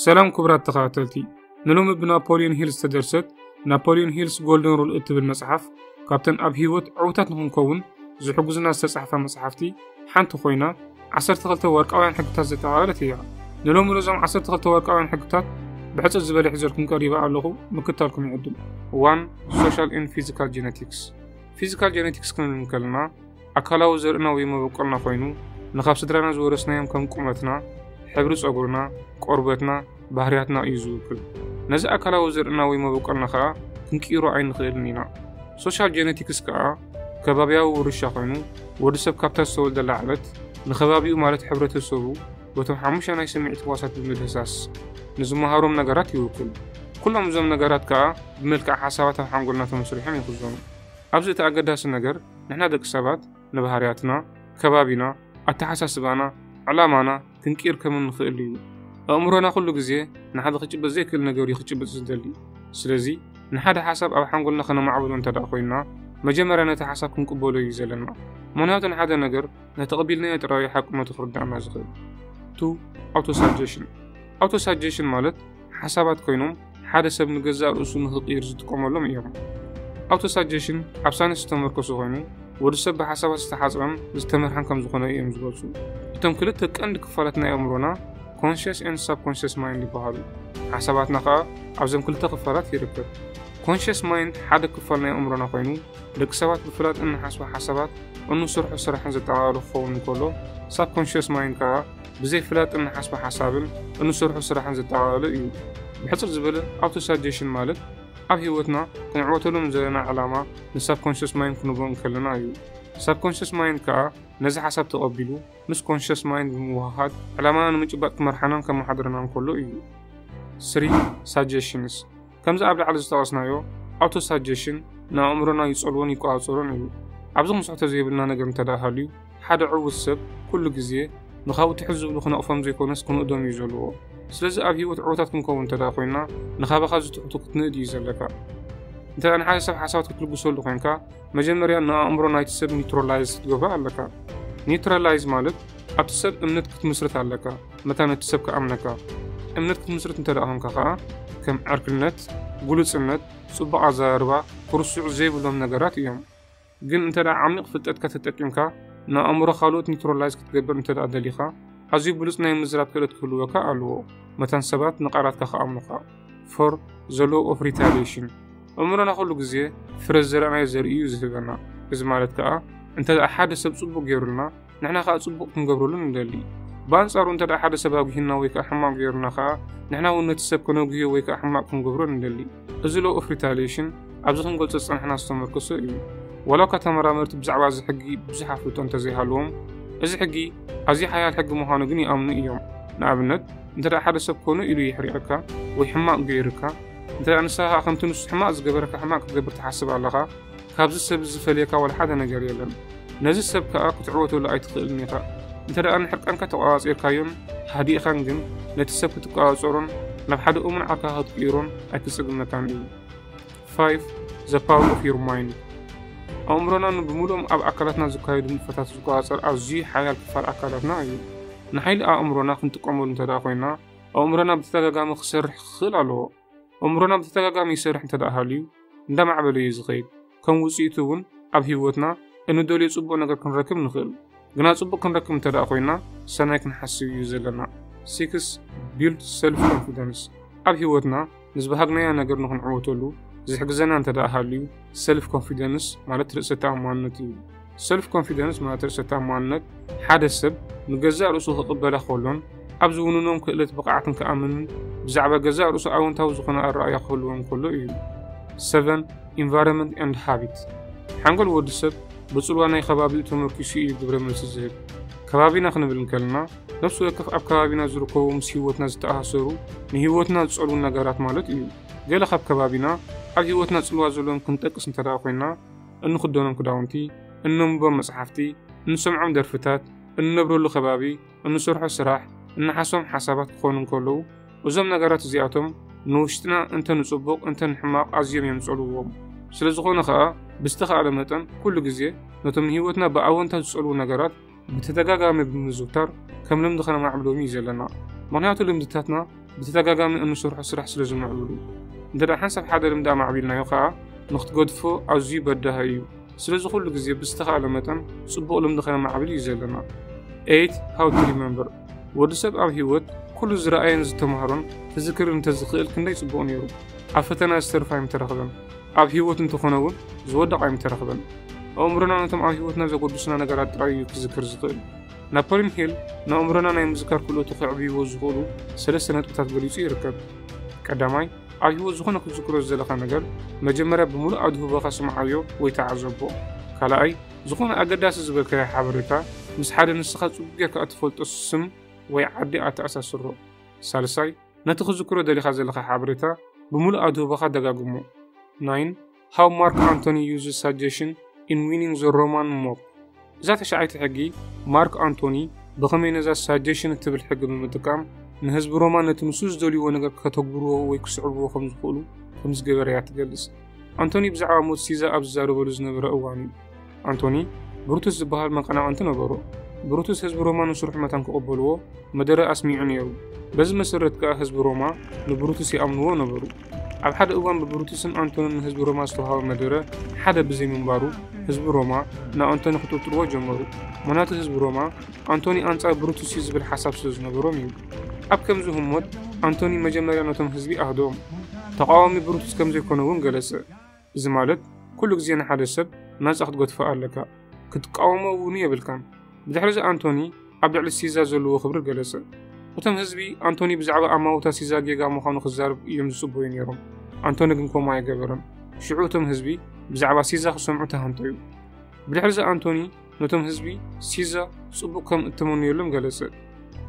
ሰላም ክቡራት ተኸታተልቲ ንሎሚ ብናፖልዮን ሂል ዝተደርሰት ናፖልዮን ሂልስ ጎልደን ሩል እትብል መጽሓፍ ካብተን ኣብ ህይወት ዕውታት ንኽንከውን ዝሕግዙና ዝተጻሕፋ መጽሓፍቲ ሓንቲ ኮይና 12 ወርቃውያን ሕግታት ዘጠቓለለት እያ ንሎሚ ነዞም 12 ወርቃውያን ሕግታት ብሕፅር ዝበለ ሒዘልኩም ቀሪበ ኣለኹ ምክታልኩም ይዕድም ዋን ሶሻል ን ፊዚካል ጀነቲክስ ፊዚካል ጀነቲክስ ክንብል ከለና ኣካላዊ ዘርእና ወይ መበቆልና ኮይኑ ንኻብ ስድራና ዝወረስናዮም ከም ቁመትና፣ ሕብሪ ጸጉርና፣ ቆርበትና፣ ባህርያትና እዩ ዝውክል። ነዚ ኣካላዊ ዘርእና ወይ መበቆልና ከኣ ክንቅይሮ ኣይንኽእልን ኢና። ሶሻል ጀነቲክስ ከኣ ከባብያዊ ውርሻ ኮይኑ ወዲ ሰብ ካብታ ዝተወልደላ ዕለት ንከባቢኡ ማለት ሕብረተሰቡ በቶም ሓሙሽተ ናይ ስምዒት ህዋሳት ብምድህሳስ ንዝመሃሮም ነገራት ይውክል። ኩሎም እዞም ነገራት ከኣ ብመልክዕ ሓሳባት ኣብ ሓንጎልና ተመስሪሖም ይኽዘኑ። ኣብዚ እቲ ኣገዳሲ ነገር ንሕና ደቂ ሰባት ንባህርያትና፣ ከባቢና፣ ኣተሓሳስባና፣ ዕላማና ክንቅይር ከም እንኽእል እዩ። ኣእምሮና ኩሉ ግዜ ንሓደ ክጭበጥ ዘይክእል ነገር እዩ ክጭብጥ ዝደሊ። ስለዚ ንሓደ ሓሳብ ኣብ ሓንጎልና ከነማዕብሎ እንተድኣ ኮይንና መጀመርያ ነቲ ሓሳብ ክንቅበሎ እዩ ዘለና። ምኽንያቱ ንሓደ ነገር ነተቐቢልናዮ ጥራይ እዩ ሓቅነቱ ክርድኣና ዝኽእል። ቱ ኣውቶ ሳጀሽን ኣውቶ ሳጀሽን ማለት ሓሳባት ኮይኖም ሓደ ሰብ ንገዛእ ርእሱ ንኽቕይር ዝጥቀመሎም እዮም። ኣውቶ ሳጀሽን ኣብ ሳይንስ ዝተመርኮሰ ኮይኑ ወዲ ሰብ ብሓሳባት ዝተሓጽረን ዝተመርሐን ከም ዝኾነ እዮም ዝገልጹ። እቶም ክልተ ቀንዲ ክፋላት ናይ ኣእምሮና ኮንሽስ ኤንድ ሳብኮንሽስ ማይንድ ይበሃሉ። ሓሳባትና ከኣ ኣብዞም ክልተ ክፋላት ይርከብ። ኮንሽስ ማይንድ ሓደ ክፋል ናይ ኣእምሮና ኮይኑ ደቂ ሰባት ብፍላጥ እንሓስቦ ሓሳባት እንሰርሖ ስራሕን ዘጠቓልል ክኸውን እንከሎ ሳብኮንሽስ ማይንድ ከኣ ብዘይፍላጥ እንሓስቦ ሓሳብን እንሰርሖ ስራሕን ዘጠቓለለ እዩ። ብሕጽር ዝበለ ኣውቶሳጀሽን ማለት ኣብ ህይወትና ክንዕወተሉ ንዘለና ዕላማ ንሳብኮንሸስ ማይንድ ክንቦ እንከለና እዩ። ሳብኮንሸስ ማይንድ ከኣ ነዚ ሓሳብ ተቐቢሉ ምስ ኮንሸስ ማይንድ ብምውህሃድ ዕላማና ንምጭባጥ ክመርሓናን ከመሓድረናን ከሎ እዩ። 3 Suggestions ከምዚ ኣብ ላዕሊ ዝጠቐስናዮ ኣውቶሳጀሽን ንኣእምሮና ይጸልዎን ይቆጻጸሮን እዩ። ኣብዚ ክንስሕቶ ዘይብልና ነገር እንተ ደኣ ሃልዩ ሓደ ዕዉት ሰብ ኩሉ ግዜ ንኻብኡ ትሕት ዝብሉ ክነቕፎም ዘይኮነስ ክንእዶም እዩ ዘለዎ። ስለዚ ኣብ ህይወት ዕዉታት ክንከውን እንተ ደኣ ኮይንና ንኻባኻ ዝትሕቱ ክትንእድ እዩ ዘለካ። እንተ ደኣ ንሓደ ሰብ ሓሳባት ክትልግሰሉ ኮንካ መጀመርያ ንኣእምሮ ናይቲ ሰብ ኒውትራላይዝ ክትገብሮ ኣለካ። ኒውትራላይዝ ማለት ኣብቲ ሰብ እምነት ክትምስርት ኣለካ። መታን እቲ ሰብ ክኣምነካ። እምነት ክትምስርት እንተ ደኣ ዄንካ ኸኣ፣ ከም ዕርክነት፣ ግሉጽነት፣ ጽቡቕ ኣዘራርባ፣ ክርስዑ ዘይብሎም ነገራት እዮም። ግን እንተ ደኣ ዓሚቕ ፍልጠትካ ተጠቂምካ ንኣእምሮ ካልኦት ኒውትራላይዝ ክትገብር እንተ ደኣ ደሊኻ፣ ኣዝዩ ብሉጽ ናይ ምዝራብ ክእለት ክህልወካ ኣለዎ መታን ሰባት ንቓላትካ ክኣምኑኻ። For the Law of Retaliation ኣእምሮና ዅሉ ግዜ ፍረ ዝዘራእናዮ ዘርኢ እዩ ዝህበና። እዚ ማለት ከኣ እንተ ደኣ ሓደ ሰብ ጽቡቕ ገይሩልና፣ ንሕና ከኣ ጽቡቕ ክንገብረሉ ንደሊ። ብኣንጻሩ እንተ ደኣ ሓደ ሰብ ኣጒሂና ወይ ከኣ ሕማቕ ገይሩና ከኣ፣ ንሕና እውን ነቲ ሰብ ከነጒህዮ ወይ ከኣ ሕማቕ ክንገብሮ ንደሊ። እዚ ሎው ኦፍ ሪታልየሽን ኣብዚ ክንገልጾ ዝጸናሕና ዝተመርኮሰ እዩ። ዋላ እኳ ተመራመርቲ ብዛዕባ እዚ ሕጊ ብዙሕ ኣፍልጦ እንተ ዘይሃለዎም፣ እዚ ሕጊ ኣዝዩ ሓያል ሕጊ ምዃኑ ግን ይኣምኑ እዮም። ንኣብነት፣ እንተ ደኣ ሓደ ሰብ ኮነ ኢሉ የሕሪቐካ ወይ ሕማቕ ገይሩካ፣ እንተ ደኣ ንስኻ ከኣ ከምቲ ንሱ ሕማቕ ዝገበረካ ሕማቕ ክትገብር ትሓስብ ኣለኻ፣ ካብዚ ሰብ እዚ ዝፈልየካ ዋላ ሓደ ነገር የለን። ነዚ ሰብ ከኣ ክትዕወተሉ ኣይትኽእልን ኢኻ። እንተ ደኣ ንሕርቃንካ ተቆጻጺርካዮን ሃዲእኻን ግን ነቲ ሰብ ክትቆጻጸሮን ናብ ሓደ እሙን ዓርክኻ ክትቅይሮን ኣይክጽግመካን እዩ። 5 The Power of Your Mind ኣእምሮና ንብምሉኦም ኣብ ኣካላትና ዝካየዱ ንጥፈታት ዝቆጻጸር ኣዝዩ ሓያል ክፋል ኣካላትና እዩ። ንሓይሊ ኣእምሮና ክንጥቀመሉ እንተ ደኣ ኮይና ኣእምሮና ብተደጋጋሚ ክሰርሕ ክኽእል ኣለዎ። እምሮና ብተደጋጋሚ ይሰርሕ እንተ ደኣ ሃልዩ እንዳማዕበለ እዩ ዝኸይድ ከም ውፅኢቱ እውን ኣብ ህይወትና እንደልዮ ፅቡቅ ነገር ክንረክብ ንኽእል ግና ፅቡቅ ክንረክብ እንተ ደኣ ኮይና ሰናይ ክንሓስብ እዩ ዘለና ሲክስ ቢልድ ሰልፍ ኮንፊደንስ ኣብ ህይወትና ንዝበሃግናዮ ነገር ንክንዕወተሉ ዝሕግዘና እንተ ደኣ ሃልዩ ሰልፍ ኮንፊደንስ ማለት ርእሰ ተኣማንነት እዩ። ሰልፍ ኮንፊደንስ ማለት ርእሰ ተኣማንነት ሓደ ሰብ ንገዛእ ርእሱ ክቕበላ ከሎን ኣብ ዝውንኖም ክእለት ብቕዓትን ክኣምንን ብዛዕባ ገዛእ ርእሱ ኣወንታዊ ዝኾነ ኣረኣእያ ክህልዎም ከሎ እዩ። ሰቨን ኢንቫይሮንመንት ኤንድ ሃቢት ሓንጎል ወዲ ሰብ ብፅልዋ ናይ ከባቢኡ ተመርኪሱ እዩ ግብረ መልሲ ዝህብ። ከባቢና ክንብል እንከለና ነፍሲ ወከፍ ኣብ ከባቢና ዝርከቡ ምስ ህይወትና ዝተኣሳሰሩ ንህይወትና ዝፀልዉ ነገራት ማለት እዩ። ገለ ካብ ከባቢና ኣብ ህይወትና ጽልዋ ዘለዎም ክንጠቅስ እንተደኣ ኮይና፣ እንኽደኖም ክዳውንቲ፣ እነንብቦም መጽሓፍቲ፣ እንሰምዖም ደርፍታት፣ እንነብረሉ ከባቢ፣ እንሰርሖ ስራሕ፣ እንሓስቦም ሓሳባት ክኾኑ እንከለዉ፣ እዞም ነገራት እዚኣቶም ንውሽጥና እንተ ንጽቡቕ እንተ ንሕማቕ ኣዝዮም እዮም ዝጸልውዎም። ስለዝኾነ ከኣ ብዝተኻእለ መጠን ኩሉ ግዜ ነቶም ንህይወትና ብኣወንታ ዝጸልዉ ነገራት፣ ብተደጋጋሚ ብምዝውታር ከም ልምዲ ከነማዕብሎም እዩ ዘለና ምክንያቱ ልምድታትና ብተደጋጋሚ እንሰርሖ ስራሕ ስለ ዝምዕብሉ እንተ ሓንሳብ ሓደ ልምዲ ኣማዕቢልናዮ ከዓ ንክትገድፎ ኣዝዩ በዳሃ እዩ ስለዚ ኩሉ ግዜ ብዝተኻእለ መጠን ፅቡቕ ልምዲ ከነማዕብል እዩ ዘለና ኤት ሃው ቱ ሪመምበር ወዲ ሰብ ኣብ ህይወት ኩሉ ዝረኣየን ዝተማሃሮን ክዝክር እንተዝኽእል ክንደይ ፅቡቕ ነይሩ ኣብ ፈተና ዝተርፋ ኣይምተረኽበን ኣብ ህይወት እንተኾነ እውን ዝወደቕ ኣይምተረኽበን። ኣእምሮና ነቶም ኣብ ህይወትና ዘጎድሱና ነገራት ጥራይ እዩ ክዝክር ዝኽእል። ናፖሊን ሂል ንኣእምሮና ናይ ምዝካር ክእለቱ ከዕብይዎ ዝኽእሉ ሰለስተ ነጥብታት ገሊጹ ይርከብ። ቀዳማይ፣ ኣብ ህይወት ዝኾነ ክትዝክሮ ዝደለኻ ነገር መጀመርያ ብምሉእ ኣድህቦኻ ስምዓዮ ወይ ተዓዘቦ። ካልኣይ፣ ዝኾነ ኣገዳሲ ዝበልካዮ ሓበሬታ ምስ ሓደ ንስኻ ጽቡቕ ጌርካ እትፈልጦ ስም ወይ ዓዲ ኣተኣሳስሮ። ሳልሳይ፣ ነቲ ክዝክሮ ደሊኻ ዘለኻ ሓበሬታ ብምሉእ ኣድህቦኻ ደጋግሞ። 9 How Mark Antony Uses Suggestion in Winning the Roman Mob እዛ ተሻዓይቲ ሕጊ ማርክ ኣንቶኒ ብኸመይ ነዛ ሳጀሽን እትብል ሕጊ ብምጥቃም ንህዝቢ ሮማ ነቲ ንሱ ዝደልይዎ ነገር ከተግብርዎ ወይ ክስዕብዎ ከም ዝኽእሉ ከም ዝገበረ እያ ትገልጽ ኣንቶኒ ብዛዕባ ሞት ሲዛ ኣብ ዝዛረበሉ ዝነበረ እዋን እዩ ኣንቶኒ ብሩቱስ ዝበሃል መቐናቕንቲ ነበሮ። ብሩቱስ ህዝቢ ሮማ ንስርሑ መታን ክቕበልዎ መደረ ኣስሚዑ ነይሩ። በዚ መሰረት ከኣ ህዝቢ ሮማ ንብሩቱስ ይኣምንዎ ነበሩ። ኣብ ሓደ እዋን ብብሩቱስን ኣንቶንን ንህዝቢ ሮማ ዝተውሃበ መደረ ሓደ ብዘይምንባሩ ህዝቢ ሮማ ንኣንቶኒ ክጥርጥርዎ ጀመሩ። ምኽንያቱ ህዝቢ ሮማ ኣንቶኒ ኣንጻር ብሩቱስ እዩ ዝብል ሓሳብ ስለ ዝነበሮም እዩ። ኣብ ከምዚ ህሞት ኣንቶኒ መጀመርያ ነቶም ህዝቢ ኣህደኦም። ተቓዋሚ ብሩቱስ ከም ዘይኮነ እውን ገለጸ። እዚ ማለት ኩሉ ግዜ ንሓደ ሰብ ናጻ ክትገድፎ ኣለካ፣ ክትቃወሞ እውን የብልካን። ብድሕርዚ ኣንቶኒ ኣብ ልዕሊ ሲዛ ዘለዎ ክብሪ ገለጸ። እቶም ህዝቢ ኣንቶኒ ብዛዕባ ኣማውታ ሲዛ ጌጋ ምዃኑ ክዛረብ እዮም ዝጽበዩ ነይሮም፣ ኣንቶኒ ግን ከምኡ ኣይገበረን። ሽዑ እቶም ህዝቢ ብዛዕባ ሲዛ ክሰምዑ ተሃንጠዩ። ብድሕርዚ ኣንቶኒ ነቶም ህዝቢ ሲዛ ጽቡቕ ከም እተመንየሎም ገለጸ።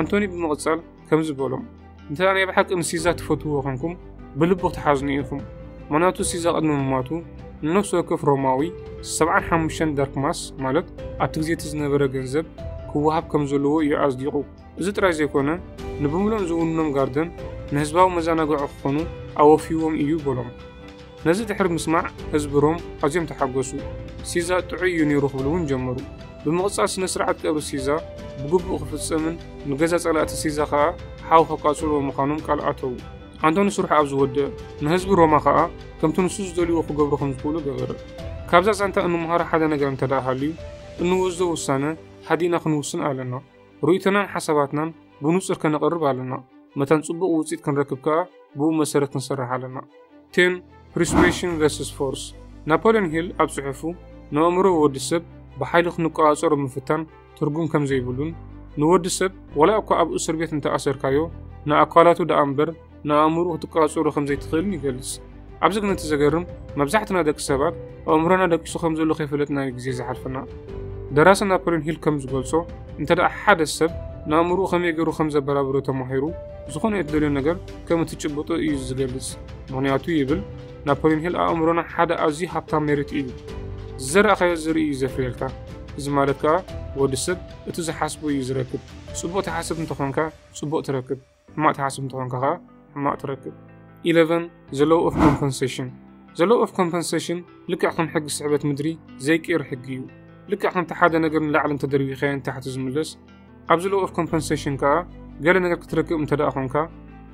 ኣንቶኒ ብምቕጻል ከምዚ በሎም፣ እንተ ደኣ ናይ ብሓቂ ንሲዛ ትፈትውዎ ዄንኩም፣ ብልቢ ክትሓዝኑ ኢኹም። ምኽንያቱ ሲዛ ቅድሚ ምሟቱ ንነፍሲ ወከፍ ሮማዊ ሰብዓን ሓሙሽተን ደርክማስ፣ ማለት ኣብቲ ግዜ እቲ ዝነበረ ገንዘብ፣ ክወሃብ ከም ዘለዎ እዩ ኣጽዲቑ። እዚ ጥራይ ዘይኰነ፣ ንብምሉኦም ዝውንኖም ጋርደን ንህዝባዊ መዘናግዒ ክዀኑ ኣወፍይዎም እዩ በሎም። ነዚ ድሕሪ ምስማዕ ህዝቢ ሮም ኣዝዮም ተሓጐሱ። ሲዛ ጥዑይ እዩ ነይሩ ክብሉ እውን ጀመሩ። ብምቕጻል ስነ-ስርዓት ቀብሪ ሲዛ ብግቡእ ክፍጸምን ንገዛ ጸላእቲ ሲዛ ኸኣ ሓዊ ከቃጽልዎ ምዃኖም ቃል ኣተዉ። ኣንቶኒ ስርሑ ኣብ ዝወድእ ንህዝቢ ሮማ ኸኣ ከምቲ ንሱ ዝደልይዎ ክገብሩ ከም ዝኽእሉ ገበረ። ካብዛ ዛንታ እንመሃሮ ሓደ ነገር እንተድኣ ሃልዩ እንወስዶ ውሳነ ሃዲእና ክንውስን ኣለና። ርእይቶናን ሓሳባትናን ብንጹር ከነቕርብ ኣለና፣ መታን ጽቡቕ ውጽኢት ክንረክብ ከኣ ብኡ መሰረት ክንሰርሕ ኣለና። ቴን ፕሪስዌሽን ቨርስስ ፎርስ ናፖልዮን ሂል ኣብ ጽሑፉ ንኣእምሮ ወዲ ሰብ ብሓይሊ ክንቆጻጸሮ ምፍታን ትርጉም ከም ዘይብሉን ንወዲ ሰብ ዋላ እኳ ኣብ እሱር ቤት እንተ ኣሰርካዮ ንኣካላቱ ደኣ እምበር ንኣእምሮ ክትቆጻጸሮ ከም ዘይትኽእልን ይገልጽ። ኣብዚ ግን እቲ ዘገርም መብዛሕትና ደቂ ሰባት ኣእምሮና ደቂሱ ከም ዘሎ ከይፈለጥና እዩ ግዜ ዝሓልፈና። ደራሲ ናፖሊዮን ሂል ከም ዝገልጾ እንተ ደኣ ሓደ ሰብ ንኣእምሮኡ ከመይ ገይሩ ከም ዘበራብሮ ተማሂሩ ዝኾነ እትደልዮ ነገር ከም እትጭብጦ እዩ ዝገልጽ። ምኽንያቱ ይብል ናፖሊዮን ሂል ኣእምሮና ሓደ ኣዝዩ ሃብታም መሬት እዩ። ዝዘራእካዮ ዘርኢ እዩ ዘፍርየልካ። እዚ ማለት ከኣ ወዲ ሰብ እቲ ዝሓስቦ እዩ ዝረክብ። ጽቡቕ ትሓስብ እንተኾንካ ጽቡቕ ትረክብ። ሕማቅ ትሓስብ እንተኾንካ ከኣ ሕማቅ ትረክብ። Eleven The Law of Compensation The Law of Compensation ልክዕ ከም ሕጊ ስሕበት ምድሪ ዘይቅየር ሕጊ እዩ። ልክዕ ከምቲ ሓደ ነገር ንላዕሊ እንተደርቢኻዮ ንታሕቲ ዝምለስ ኣብዚ Law of Compensation ከኣ ገለ ነገር ክትረክብ እንተደኣ ኮንካ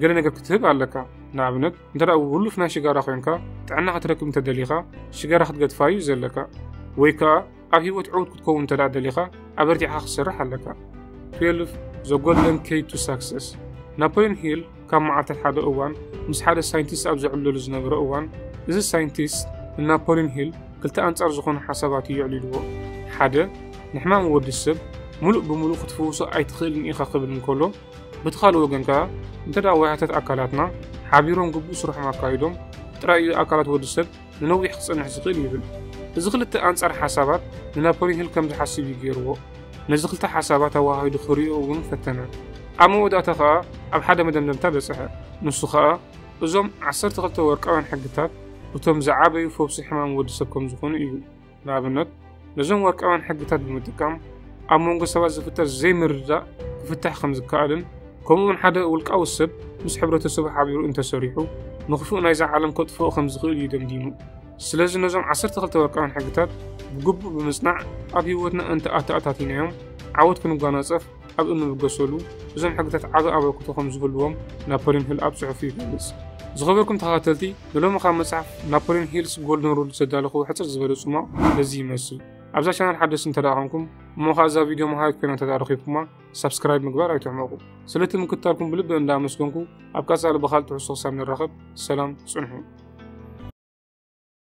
ገለ ነገር ክትህብ ኣለካ። ንኣብነት እንተደኣ ውሉፍ ናይ ሽጋራ ኮይንካ ጥዕና ክትረክብ እንተደሊኻ ሽጋራ ክትገድፋ እዩ ዘለካ ወይ ከኣ ኣብ ህይወት ዕውት ክትከውን እንተ ደሊኻ ኣበርቲዕኻ ክትሰርሕ ኣለካ 12 The Golden Key to Success ናፖሊዮን ሂል ካብ መዓልታት ሓደ እዋን ምስ ሓደ ሳይንቲስት ኣብ ዘዕለሉ ዝነበረ እዋን እዚ ሳይንቲስት ንናፖሊዮን ሂል ክልተ ኣንጻር ዝኾኑ ሓሳባት እዩ የዕሊልዎ ሓደ ንሕማም ወዲ ሰብ ሙሉእ ብምሉእ ክትፍውሶ ኣይትኽእልን ኢኻ ክብል እንከሎ በቲ ካልእ ወገን ከኣ እንተ ዋያታት ኣካላትና ሓቢሮም ግቡእ ስርሖም ኣካይዶም ጥራይ እዩ ኣካላት ወዲ ሰብ ንነዊሕ ክጸንሕ ዝኽእል ይብል። እዚ ክልተ ኣንጻር ሓሳባት ንናፖሊን ሂል ከም ዝሓስብ እዩ ገይርዎ። ነዚ ክልተ ሓሳባት ኣወሃሂዱ ክርእዮ እውን ፈተነ። ኣብ መወዳእታ ከኣ ኣብ ሓደ መደምደምታ በጽሐ። ንሱ ከኣ እዞም ዓሰርተ ክልተ ወርቃውያን ሕግታት እቶም ዝዓበዩ ፈውሲ ሕማም ወዲ ሰብ ከም ዝኾኑ እዩ። ንኣብነት ነዞም ወርቃውያን ሕግታት ብምጥቃም ኣብ መንጎ ሰባት ዝፍጠር ዘይምርድዳእ ክፍታሕ ከም ዝከኣልን ከምኡውን ሓደ ውልቃዊ ሰብ ምስ ሕብረተሰቡ ሓቢሩ እንተሰሪሑ ንኽፉእ ናይዛ ዓለም ከጥፍኦ ከም ዝኽእል እዩ ደምዲሙ ስለዚ ነዞም 12 ወርቃውያን ሕግታት ብግቡእ ብምጽናዕ ኣብ ህይወትና እንተ ኣተኣታቲናዮም ዓወት ክንጓናጸፍ ኣብ እንብገሰሉ እዞም ሕግታት ዓቢ ኣበርክቶ ከም ዝህልዎም ናፖልዮን ሂል ኣብ ጽሑፉ ይገልጽ። ዝኸበርኩም ተኸታተልቲ ንሎሚ ካብ መጽሓፍ ናፖልዮን ሂልስ ጎልደን ሩል ዝተዳለኹ ሕጽር ዝበለ ጽሟቕ ነዚ ይመስል። ኣብዛ ቻናል ሓደስቲ እንተ ኮንኩም እሞ ከዓ እዛ ቪድዮ መሃሪት ኮይና እንተ ረኺብኩማ ሳብስክራይብ ምግባር ኣይትሕመቑ። ስለቲ ምክታልኩም ብልቢ እንዳ ኣመስገንኩ ኣብ ቀጻሊ ብኻልእ ትሕዝቶ ክሳብ ንራኸብ ሰላም ጽንሑ።